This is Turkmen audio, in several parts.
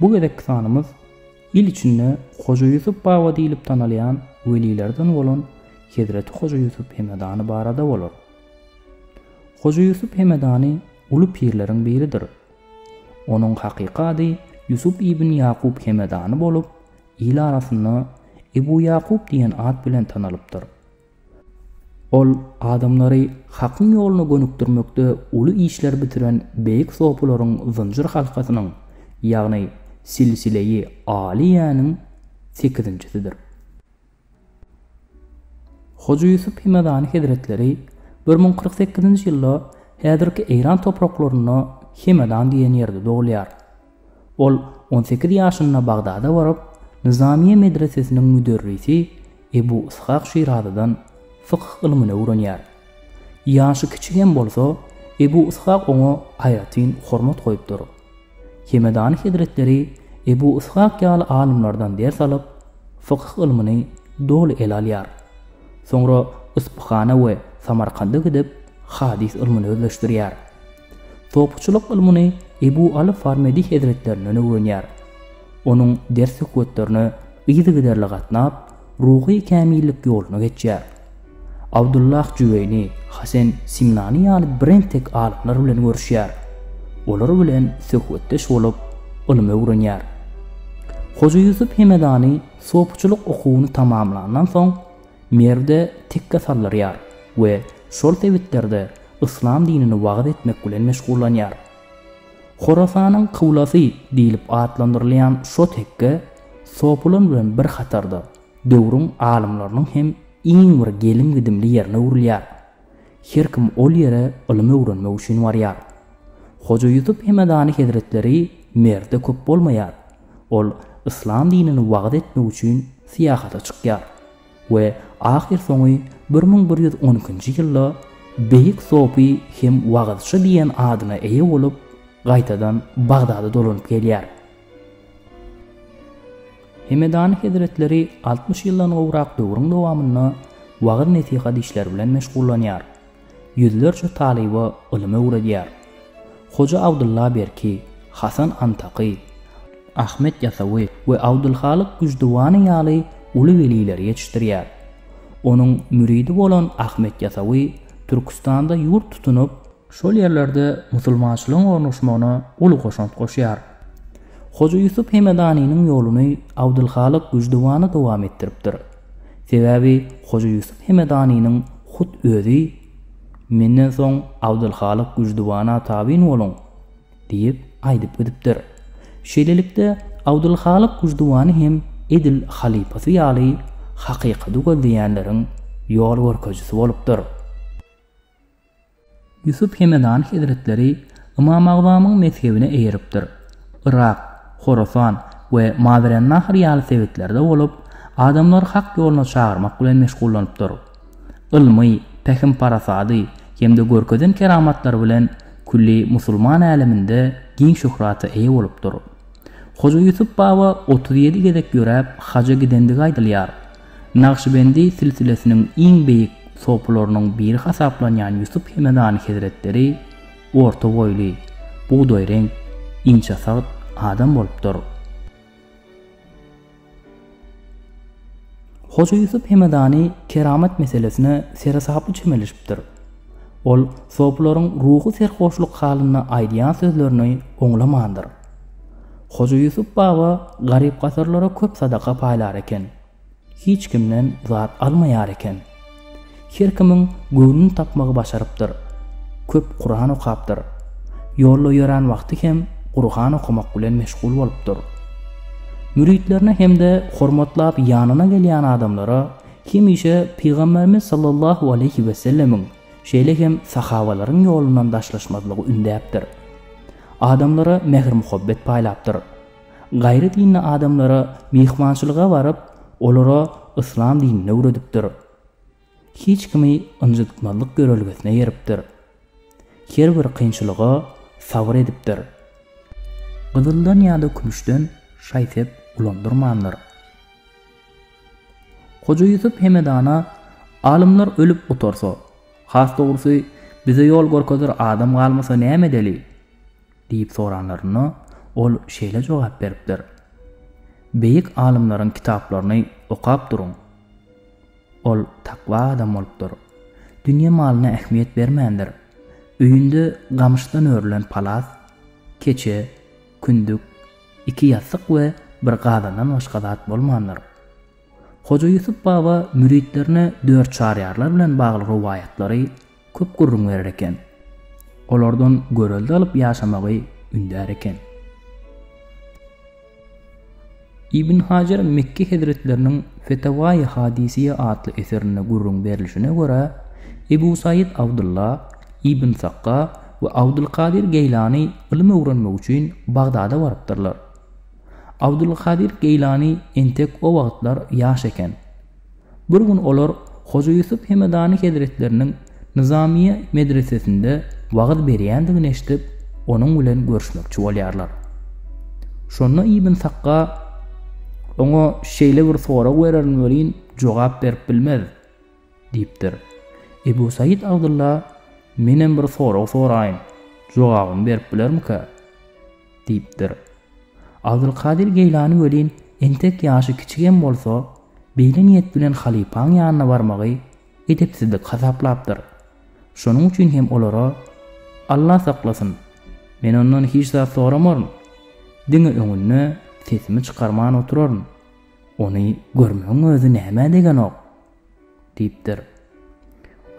Bu gezekki sanymyz il içinde Hoja Ýusup baba diýlip tanalýan welilerden bolan Hezreti Hoja Ýusup Hemedany barada bolar. Hoja Ýusup Hemedany uly pirleriň biridir. Onuň hakyky ady Ýusup ibn Ýakup Hemedany bolup, il arasynda Ebu Ýakup diýen at bilen tanalypdyr. Ol adamlary Hakyň ýoluna gönükdirmekde uly işler bitiren beýik sopularyň zynjyr halkasynyň, ýagny silsile-i aliýäniň sekizinjisidir. Hoja Ýusup Hemedany hezretleri bir müň kyrk sekizinji ýylda häzirki Eýran topraklarynda Hemedan diýen ýerde dogulýar. Ol on sekiz ýaşynda Bagdada baryp, Nyzamyýe medresesiniň müderrisi Ebu Yshak Şirazydan fykh ylmyny öwrenýär. Ýaşy kiçi hem bolsa, Ebu Yshak oňa aýratyn hormat goýupdyr. Hemedany hezretleri Ebu Yshak ýaly alymlardan ders alyp, fykh ylmyny doly ele alýar. Soňra Yspyhana we Samarkanda gidip, hadys ylmyny özleşdirýär. Topçulyk ylmyny Ebu Aly Farmedi hezretlerinden öwrenýär. Onuň ders-söhbetlerine yzygiderli gatnap, ruhy kämillik ýoluny geçýär. Abdullah Jüweýni, Hasen Simnani ýaly birentek alymlar bilen görüşýär. Olar bilen söhbetdeş bolup, ylym öwrenýär. Hoja Ýusup Hemedany sopçulyk okuwyny tamamlandan soň, Merwde tekge saldyrýar we şol sebitlerde yslam dinini wagyz etmek bilen meşgullanýar. Horasanyň kyblasy diýlip atlandyrylýan şo tekge Sopulan bilen bir hatarda döwrüň alymlarynyň hem iň bir gelim-gidimli ýerine öwrülýär. Her kim ol ýere ylym öwrenmek üçin barýar. Hoja Ýusup Hemedany hezretleri Merwde köp bolmaýar. Ol yslam dinini wagyz etmek üçin syýahata çykýar we ahyr soňy bir müň bir ýüz on ikinji ýylda Beýik sopy hem wagyzçy diýen adyna eýe bolup, gaýtadan Bagdada dolanyp gelýär. Hemedany hezretleri altmyş ýyldan gowrak döwrüň dowamynda wagyz-nesihat işleri bilen meşgullanýar. Ýüzlerçe talyba ylym öwredýär. Hoja Abdylla Berki, Hasan Antaky, Ahmet Ýasawy we Abdylhalyk Güždüwany ýaly uly welileri ýetişdirýär. Onuň müridi bolan Ahmet Ýasawy Türküstanda ýurt tutunyp, şol ýerlerde musulmançylygyň ornaşmagyna uly goşant goşýar. Hoja Ýusup Hemedanynyň ýoluny Abdylhalyk Güždüwany dowam etdiripdir. Sebäbi Hoja Ýusup Hemedanynyň hut özi, Menden soň Abdylhalyk Güždüwana tabyn boluň! diýip, aýdyp gidipdir. Şeýlelikde, Abdylhalyk Güždüwany hem edil halypasy ýaly hakykady gözleýänleriň ýol görkezijisi bolupdyr. Ýusup Hemedany hezretleri Ymam Agzamyň mezhebine eýeripdir. Yrak, Horasan we Mawerennahr ýaly sebitlerde bolup, adamlary hak ýoluna çagyrmak bilen meşgullanypdyr. Ylmy, pähim-parasady hem-de görkezen keramatlary bilen külli musulman äleminde giň şöhrata eýe bolupdyr. Hoja Ýusup baba otuz ýedi gezek ýöräp haja gidendigi aýdylýar. Nagşybendi silsilesiniň iň beýik sopularynyň biri hasaplanýan Ýusup Hemedany hezretleri orta boýly, bugdaýreňk, inçesagt adam bolupdyr. Hoja Ýusup Hemedany keramat meselesine seresaply çemeleşipdir. Ol sopularyň ruhy serhoşlyk halynda aýdýan sözlerini oňlamandyr. Hoja Ýusup baba garyp-gasarlara köp sadaka paýlar eken. Hiç kimden zat almaýar eken. Her kimiň göwnüni tapmagy başarypdyr. Köp Kuran okapdyr. Ýolda ýörän wagty hem Gurhan okamak bilen meşgul bolupdyr. Müritlerine hem-de hormatlap ýanyna gelýän adamlara hemişe Pygamberimiz sallallahu aleýhi wesellemiň Şeýle hem sahabalaryň ýolundan daşlaşmazlygy ündäpdir. Adamlara mähir-muhabbet paýlapdyr. Gaýry dinli adamlara myhmançylyga baryp, olara yslam dinini öwredipdir. Hiç kimi ynjytmazlyk ýörelgesine eripdir. Her bir kynçylyga sabyr edipdir. Gyzyldan ýa-da kümüşden şaý-sep ulandyrmandyr. Hoja Ýusup Hemedana, Alymlar ölüp gutarsa, has dogrusy, bize ýol görkezer adam galmasa näme edeli? diýip soranlarynda, ol şeýle jogap beripdir, Beýik alymlaryň kitaplaryny okap duruň. Ol takwa adam bolupdyr. Dünýe malyna ähmiýet bermändir. Öýünde gamyşdan örülen palas, keçe, kündük, Iki ýassyk we bir gazandan başga zat bolmandyr. Hoja Ýusup baba müritlerine dört Çaryýarlar bilen bagly rowaýatlary köp gürrüň berer eken. Olardan görelde alyp ýaşamagy ündär eken. Ibn Hajar Mekki hezretleriniň Fetawai Hadisiýe atly eserinde gürrüň berlişine görä, Ebu Saýyt Abdylla ibn Sakga we Abdulkadir Geýlany ylym öwrenmek üçin Bagdada barypdyrlar. Abdulkadir Geýlany entek o wagtlar ýaş eken. Bir gün olar Hoja Ýusup Hemedany hezretleriniň Nyzamyýe medresesinde wagyz berýändigini eşidip, onuň bilen görüşmekçi bolýarlar. Şonda Ibn Sakga oňa şeýle bir sorag bererin welin jogap berip bilmez. Diýipdir. Ebu Saýyt Abdylla, Menem bir sorag soraýyn, jogabyny berip bilermikä? diýipdir. Abdylkadyr Geýlany welin entek ýaşy kiçigem bolsa, beýle niýet bilen halypaň ýanyna barmagy edepsizlik hasaplapdyr. Şonuň üçin hem olara, Alla saklasyn, men ondan hiç zat soramaryn, diňe öňünde sesimi çykarman oturaryn. Ony görmegiň özi nämä degenok? diýipdir.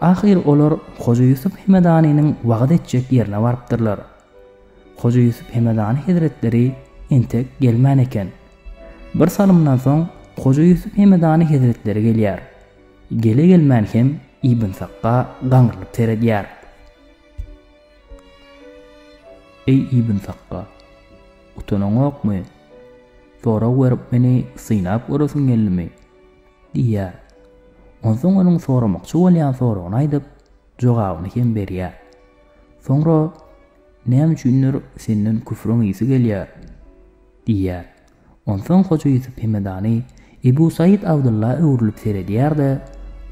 Ahyr olar Hoja Ýusup Hemedanynyň wagyz etjek ýerine barypdyrlar. Hoja Ýusup Hemedany hezretleri entek gelmän eken. Bir salymdan soň Hoja Ýusup Hemedany hezretleri gelýär. Gele-gelmän hem Ibn Sakga gaňrylyp seredýär. Eý Ibn Sakga! Utanaňokmy? Sorag berip meni synap göresiň geldimi? Diýýär. Onsoň onuň soramakçy bolýan soragyny aýdyp, jogabyny hem berýär. Soňra, Näme üçindir, senden küfrüň ysy gelýär? diýýär. Onsoň Hoja Ýusup Hemedany Ebu Saýyt Abdylla öwrülip seredýär-de,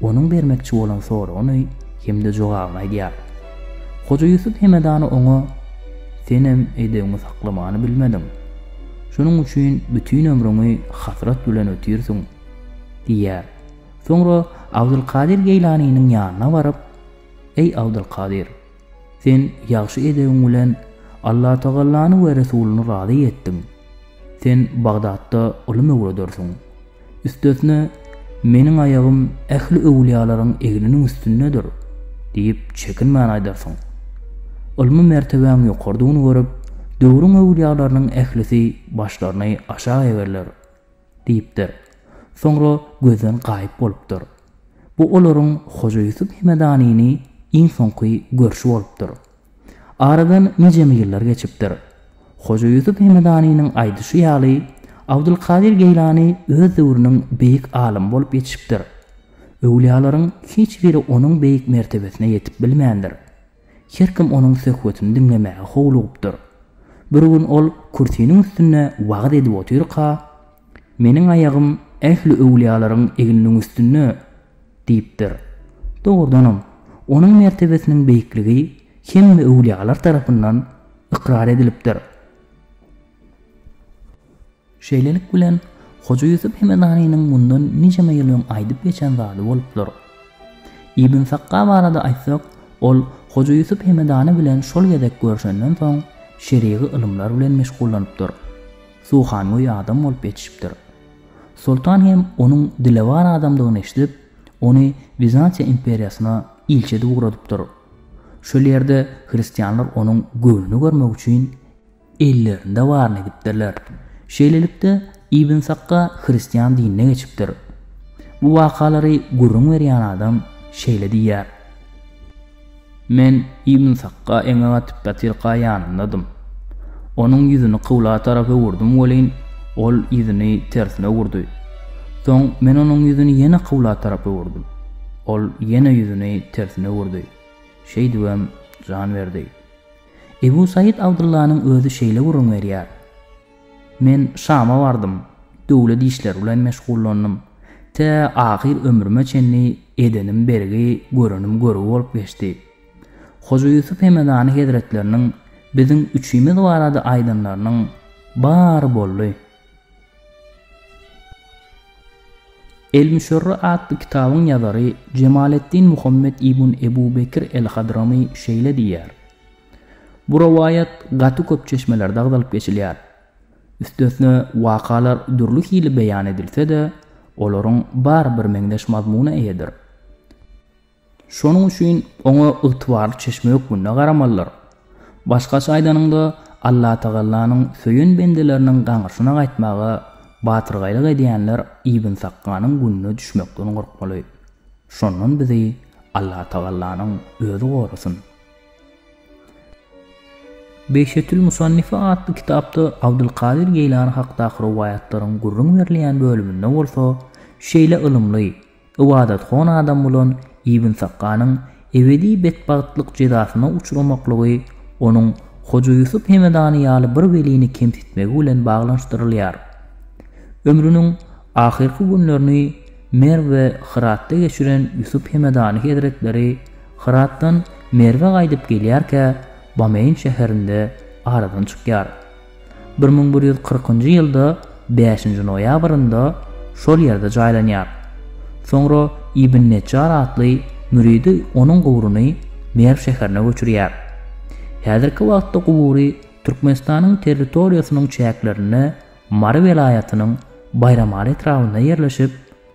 onuň bermekçi bolan soragyny hem-de jogabyny aýdýar. Hoja Ýusup Hemedany oňa, Senem edebiňi saklamany bilmediň. Şonuň üçin bütin ömrüňi hasrat bilen ötýärsiň, diýýär. Soňra Abdylkadyr Geýlanynyň ýanyna baryp, Eý Abdylkadyr! Sen ýagşy edebiň bilen Allatagallany we Resulyny razy etdiň. Sen Bagdatda ylym öwredersiň. Üstesine, Meniň aýagym ähli öwlüýalaryň egniniň üstündedir diýip çekinmän aýdarsyň. Ylmy mertebäň ýokarydygyny görüp, döwrüň öwlüýalarynyň ählisi başlaryny aşak egerler, diýipdir. Soňra gözden gaýyp bolupdyr. Bu olaryň Hoja Ýusup Hemedanyny iň soňky görşi bolupdyr. Aradan nijeme ýyllar geçipdir. Hoja Ýusup Hemedanynyň aýdyşy ýaly, Abdulkadyr Geýlany öz döwrüniň beýik alymy bolup ýetişipdir. Öwlüýalaryň hiç biri onuň beýik mertebesine ýetip bilmändir. Her kim onuň söhbetini diňlemäge howlugupdyr. Bir gün ol kürsiniň üstünde wagyz edip otyrka, Meniň aýagym ähli öwlüýalaryň egniniň üstünde, Diýipdir. Dogrudanam, onuň mertebesiniň beýikligi hemme öwlüýalar tarapyndan ykrar edilipdir. Şeýlelik bilen, Hoja Ýusup Hemedanynyň mundan nijeme ýyl öň aýdyp geçen zady bolupdyr. Ibn Sakga barada aýtsak, ol Hoja Ýusup Hemedany bilen şol gezek görşenden soň, şerigy ylymlar bilen meşgullanypdyr. Suhangöý adam bolup ýetişipdir. Soltan hem onuň dilewar adamdygyny eşidip, ony Wizantiýa imperiýasyna ilçi edip ugradypdyr. Şol ýerde hristianlar onuň göwnüni görmek üçin ellerinde baryny edipdirler. Şeýlelikde, Ibn Sakga hristian dinine geçipdir. Bu wakalary gürrüň berýän adam şeýle diýýär. Men Ibn Sakga eňek atyp datyrka ýanyndadym. Onuň ýüzüni kybla tarap öwürdim welin, ol ýüzüni tersine öwürdi. Soň men onuň ýüzüni ýene kybla tarap öwürdim. Ol ýene ýüzüni tersine öwürdi. Şeýdibem jan berdi. Ebu Saýyt Abdyllanyň özi şeýle gürrüň berýär. Men Şama bardym, döwlet işleri bilen meşgullandym. Tä ahyr ömrüme çenli edenim bergi, görenim görgi bolup geçdi. Hoja Ýusup Hemedany hezretleriniň biziň üçimiz barada aýdanlarynyň bary boldy. El-Müşerre atly kitabyň ýazary Jemaleddin Muhammet ibn Ebu Bekir el-Hadramy şeýle diýýär, Bu rowaýat gaty köp çeşmelerde agzalyp geçilýär. Üstesine, wakalar dürli hili beýan edilse-de, olaryň bary birmeňzeş mazmuna eýedir. Şonuň üçin oňa ygtybarly çeşme hökmünde garamalydyr. Başgaça aýdanyňda, Allatagallanyň söýen bendeleriniň gaňrysyna gaýtmaga batyrgaýlyk edýänler Ibn Sakkanyň gününe düşmekden gorkmaly. Şondan bizi Allatagallanyň özi gorasyn! Behjetül Musannife atly kitapda Abdylkadyr Geýlany hakdaky rowaýatlaryň gürrüň berilýän bölüminde bolsa şeýle ylymly, ybadathon adam bolan Ibn Sakkanyň ebedi betbagtlyk jezasyna uçramaklygy onuň Hoja Ýusup Hemedany ýaly bir welini kemsitmegi bilen baglanyşdyrylýar. Ömrüniň ahyrky günlerini Merw we Hyratda geçiren Ýusup Hemedany hezretleri Hyratdan Merwe gaýdyp gelýärkä Bameýn şäherinde aradan çykýar. Bir müň bir ýüz kyrkynjy ýylda bäşinji noýabrynda şol ýerde jaýlanýar. Soňra Ibn Nejjar atly müridi onuň guburyny Merw şäherine göçürýär. Häzirki wagtda gubury Türkmenistanyň territoriýasynyň çäklerinde Mary welaýatynyň Baýramaly etrabynda ýerleşip,